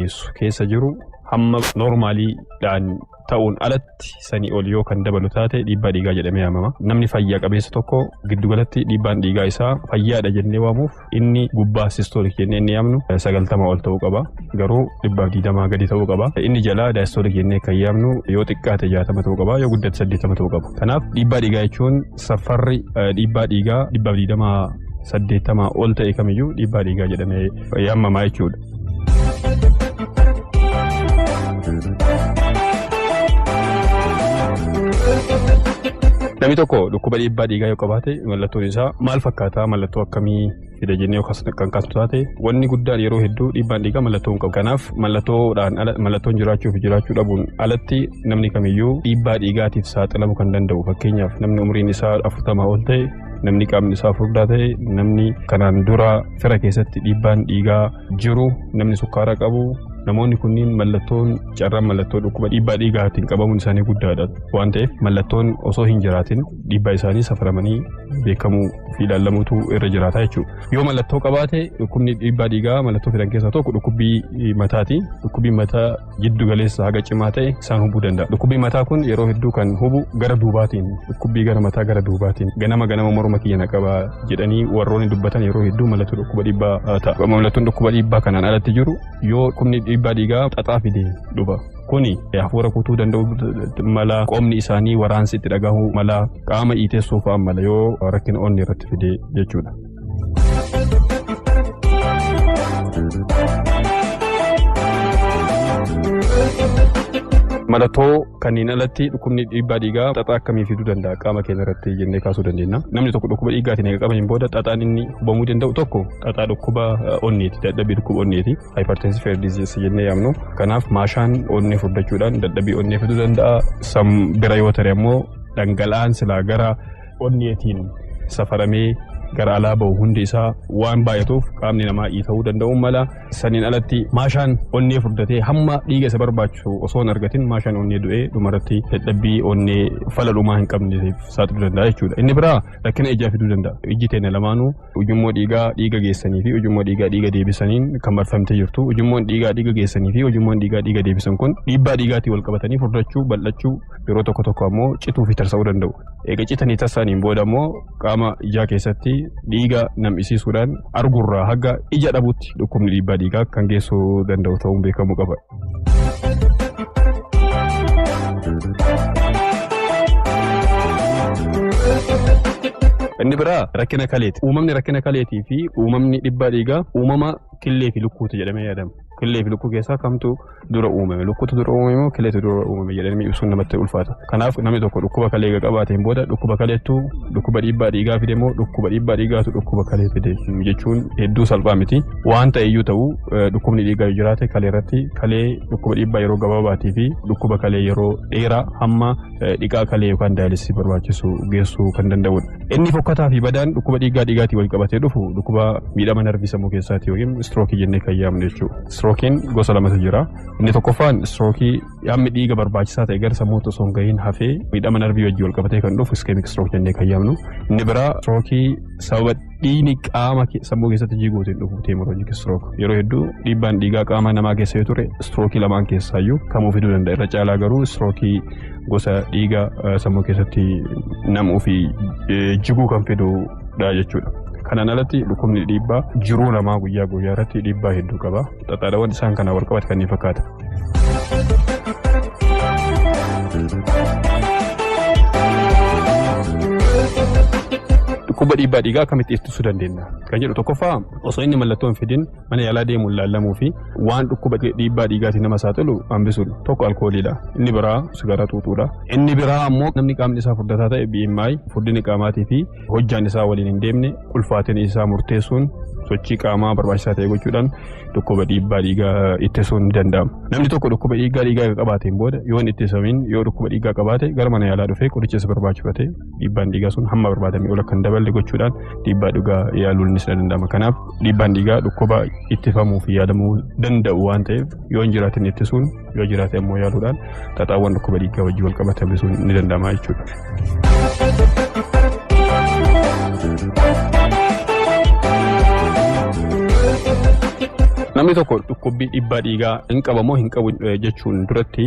geessu keessa jiru hamma noormaalii dhaan ta'uun alatti sanii ol yoo kan dabalu taate dhiibbaa dhiigaa jedhamee yaamama. Namni fayyaa qabeessa tokko giddugalatti dhiibbaan dhiigaa isaa fayyaadha jennee waamuuf inni gubbaa sistoolik jennee inni yaamnu sagaltama ol ta'uu qaba. Garuu dhibbaaf digdamaa gadi ta'uu qaba. Inni jalaa daayistoolik jennee kan yaamnu yoo xiqqaate jaatama ta'uu qaba yoo guddate saddeettama ta'uu qaba. Kanaaf dhiibbaa dhiigaa jechuun safarri dhiibbaa dhiigaa dhibbaaf digdamaa saddeettamaa ol ta'e kamiyyuu dhiibbaa dhiigaa jedhamee yaamama jechuudha. Namni tokko dhukkuba dhiibbaa dhiigaa yoo qabaate mallattoon isaa maal fakkaata mallattoo akkamii fida jennee yoo kan kaasnu taate wanni guddaan yeroo hedduu dhiibbaan dhiigaa mallattoo hin qabu. Kanaaf mallattoodhaan ala mallattoon jiraachuu fi jiraachuu dhabuun alatti namni kamiyyuu dhiibbaa dhiigaatiif saaxilamu kan danda'u fakkeenyaaf namni umriin isaa afurtamaa ol ta'e namni qaamni isaa furdaa ta'e namni kanaan dura fira keessatti dhiibbaan dhiigaa jiru namni sukkaara qabu namoonni kunniin mallattoon carraan mallattoo dhukkuba dhiibbaa dhiigaatiin qabamuun isaanii guddaadha waan ta'eef mallattoon osoo hin jiraatin dhiibbaa isaanii safaramanii beekamuu fi ilaalamuutu irra jiraata jechuudha. Yoo mallattoo qabaate dhukkubni dhiibbaa dhiigaa mallattoo fidan keessaa tokko dhukkubbii mataati. Dhukkubbii mataa jiddu galeessa haga cimaa ta'e isaan hubuu danda'a. Dhukkubbii mataa kun yeroo hedduu kan hubu gara duubaatiin dhukkubbii gara mataa gara duubaatiin ganama ganama morma kiyya na qaba jedhanii warroonni dubbatan yeroo hedduu mallattoo dhukkuba dhiibbaa ta'a. Mallattoon dhukkuba dhiibbaa kanaan alatti jiru yoo dhukkubni dhiibbaa dhiigaa xaxaa fide dhufa. Kuni hafuura kutuu danda'u mala qoomni isaanii waraansi itti dhagahu mala qaama iitessuu fa'a mala yoo rakkina onnee irratti fide jechuudha. Mallattoo kanneen alatti dhukkubni dhiibbaa dhiigaa xaxaa akkamii fiduu danda'a qaama keenya irratti jennee kaasuu dandeenya. Namni tokko dhukkuba dhiigaatiin eega qabaniin booda xaxaan inni hubamuu danda'u tokko xaxaa dhukkuba onneeti dadhabbii dhukkuba onneeti hypertensive heart disease jennee yaamnu. Kanaaf maashaan onnee furdachuudhaan dadhabbii onnee fiduu danda'a. Bira yoo ta'e ammoo dhangala'aan silaa gara onneetiin safaramee gara alaa bahu hundi isaa waan baay'atuuf qaamni namaa iita'uu danda'uu mala. Saniin alatti maashaan onnee furdatee hamma dhiiga isa barbaachisu osoo hin argatin maashaan onnee du'ee dhumarratti dadhabbii onnee fala dhumaa hin qabneef saaxiluu danda'a jechuudha. Inni biraa rakkina ijaa fiduu danda'a. Ijji teenya lamaanuu ujummoo dhiigaa dhiiga geessanii fi ujummoo dhiigaa dhiiga deebisaniin kan marfamtee jirtu. Ujummoon dhiigaa dhiiga geessanii fi ujummoon dhiigaa dhiiga deebisan kun dhiibbaa dhiigaatiin wal qabatanii furdachuu, bal'achuu yeroo tokko tokko ammoo cituu fi tarsa'uu danda'u. Eega citanii tarsa'aniin booda ammoo qaama ijaa keessatti dhiiga nam'isiisuudhaan argurraa haga ija dhabutti dhukkubni dhiibbaa dhiigaa kan geessuu danda'u ta'uun beekamuu qaba. Inni biraa rakkina kaleeti. Uumamni rakkina kaleetii fi uumamni dhibbaa dhiigaa uumama killee fi lukkuuti jedhamee yaadama. Killee fi lukkuu keessaa kamtu dura uumame? Lukkuutu dura uumame moo killeetu dura uumame jedhamee ibsuun namatti ulfaata. Kanaaf namni tokko dhukkuba kalee eega qabaateen booda dhukkuba kaleettu dhukkuba dhiibbaa dhiigaa fide moo dhukkuba dhiibbaa dhiigaatu dhukkuba kalee fide jechuun hedduu salphaa miti. Waan ta'eyyuu ta'u dhukkubni dhiigaa yoo jiraate kalee irratti kalee dhukkuba dhiibbaa yeroo gabaabaatii fi dhukkuba kalee yeroo dheeraa hamma dhiqaa kalee yookaan daayalisii barbaachisu geessuu kan danda'udha. Inni fokkataa fi badaan dhukkuba dhiigaa dhiigaatiin wal qabatee dhufu dhukkuba miidhama narvii sammuu keessaati yookiin istirookii jennee kan yaamnu jechuudha. Istirookiin gosa lamatu jira. Inni tokkoffaan istirookii Yaamni dhiiga barbaachisaa ta'e gara sammuutti osoo hin gahiin hafee miidhama narbii wajjin wal qabatee kan dhufu iskemiik strook jennee kan yaamnu. Inni biraa strookii sababa dhiigni qaama sammuu keessatti jiguutiin dhufu teemoroojik strook. Yeroo hedduu dhiibbaan dhiigaa qaama namaa keessa yoo ture strookii lamaan keessaayyuu kamuu fiduu danda'a. Irra caalaa garuu strookii gosa dhiiga sammuu keessatti namuu fi jiguu kan fidudha jechuudha. Kanaan alatti dhukkubni dhiibbaa jiruu namaa guyyaa guyyaa irratti dhiibbaa hedduu qaba. Xaxaadawwan isaan kanaa wal qabatan kanneen fakkaatan. Dhukkuba dhiibbaa dhiigaa akkamitti ittisuu dandeenya? Kan jedhu tokkoffaa osoo inni mallattoo hin fidin mana yaalaa deemuun laallamuu fi waan dhukkuba dhiibbaa dhiigaatiin nama saaxilu hambisuudha. Tokko alkooliidha. Inni biraa sigaaraa xuuxuudha. Inni biraa ammoo namni qaamni isaa furdataa ta'e BMI furdina qaamaatii fi hojjaan isaa waliin hin deemne ulfaatina isaa murteessuun sochii qaamaa barbaachisaa ta'e gochuudhaan dhukkuba dhiibbaa dhiigaa ittisuun ni danda'ama. Namni tokko dhukkuba dhiibbaa dhiigaa erga qabaateen booda yoo hin ittisamiin yoo dhukkuba dhiigaa qabaate gara mana yaalaa dhufee qoricha isa barbaachisu fudhatee dhiibbaan dhiigaa sun hamma barbaadame ol akka hin daballe gochuudhaan dhiibbaa dhiigaa yaaluun ni danda'ama. Kanaaf dhiibbaan dhiigaa dhukkuba ittifamuu fi yaalamuu danda'u waan ta'eef yoo hin jiraatin ittisuun yoo jiraate ammoo yaaluudhaan xaxaawwan dhukkuba dhiigaa wajjin wal qabatan hir'isuun ni danda'ama jechuudha. Namni tokko dhukkubbii dhiibbaa dhiigaa hin qabu moo hin qabu jechuun duratti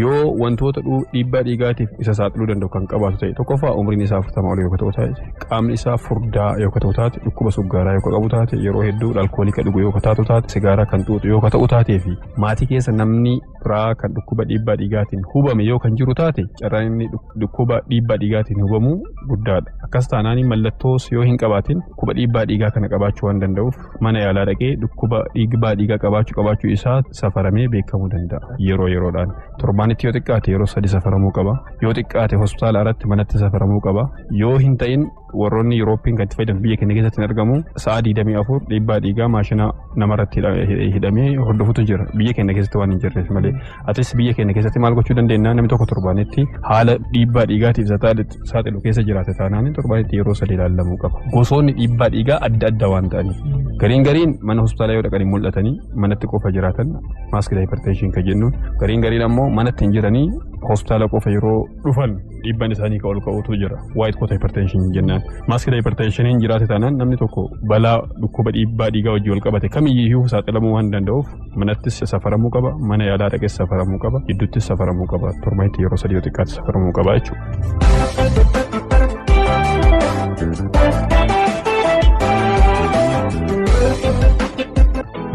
yoo wantoota dhiibbaa dhiigaatiif isa saaxiluu danda'u kan qabaatu ta'e tokkoffaa umriin isaa afurtama ol yoo ta'u taate qaamni isaa furdaa yoo ta'u taate dhukkuba suggaaraa yoo qabu taate yeroo hedduu alkoolii kan dhugu yoo ta'u taate sigaaraa kan xuuxu yoo ta'u taatee fi Maatii keessa namni biraa kan dhukkuba dhiibbaa dhiigaatiin hubame yoo kan jiru taate carraan inni dhukkuba dhiibbaa dhiigaatiin hubamu guddaadha. Akkas taanaan mallattoos yoo hin qabaatin dhukkuba dhiibbaa dhiigaa kana qabaachuu waan danda'uuf mana yaalaa dhaqee dhukkuba dhiibbaa dhiigaa qabaachuu qabaachuu isaa safaramee beekamuu danda'a yeroo yeroodhaan. Torbaanitti yoo xiqqaate yeroo sadi safaramuu qaba. Yoo xiqqaate hospitaala irratti manatti safaramuu qaba. Yoo hin ta'in warroonni Yurooppii kan itti fayyadamu biyya keenya keessatti hin argamu. Sa'a 24 dhiibbaa dhiigaa maashina namarratti hidhamee hordofutu jira. Biyya keenya keessatti waan hin jirreef malee. Atis biyya keenya keessatti maal gochuu dandeenya namni tokko torbaanitti haala dhiibbaa dhiigaatiif saaxilu keessa jiraate taanaan torbaanitti yeroo sadii ilaalamuu qaba. Gosoonni dhiibbaa dhiigaa adda adda waan ta'aniif. Gariin gariin mana hospitaalaa yoo dhaqanii mul'atanii manatti qofa jiraatan maaskii daayiparteeshiin kan jennuun gariin gariin ammoo manatti hin jiranii hospitaala qofa yeroo dhufan dhiibbaan isaanii ka ol ka'utu jira. Waayit koota hipertenshin jennaan. Maaskila hipertenshiniin jiraate taanaan namni tokko balaa dhukkuba dhiibbaa dhiigaa wajjin wal qabate kamiyyuu saaxilamuu waan danda'uuf manattis safaramuu qaba mana yaalaa dhaqes safaramuu qaba gidduuttis safaramuu qaba torbeetti yeroo sadii yoo xiqqaatti safaramuu qaba jechuudha.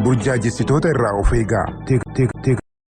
Burjaajessitoota irraa of eegaa.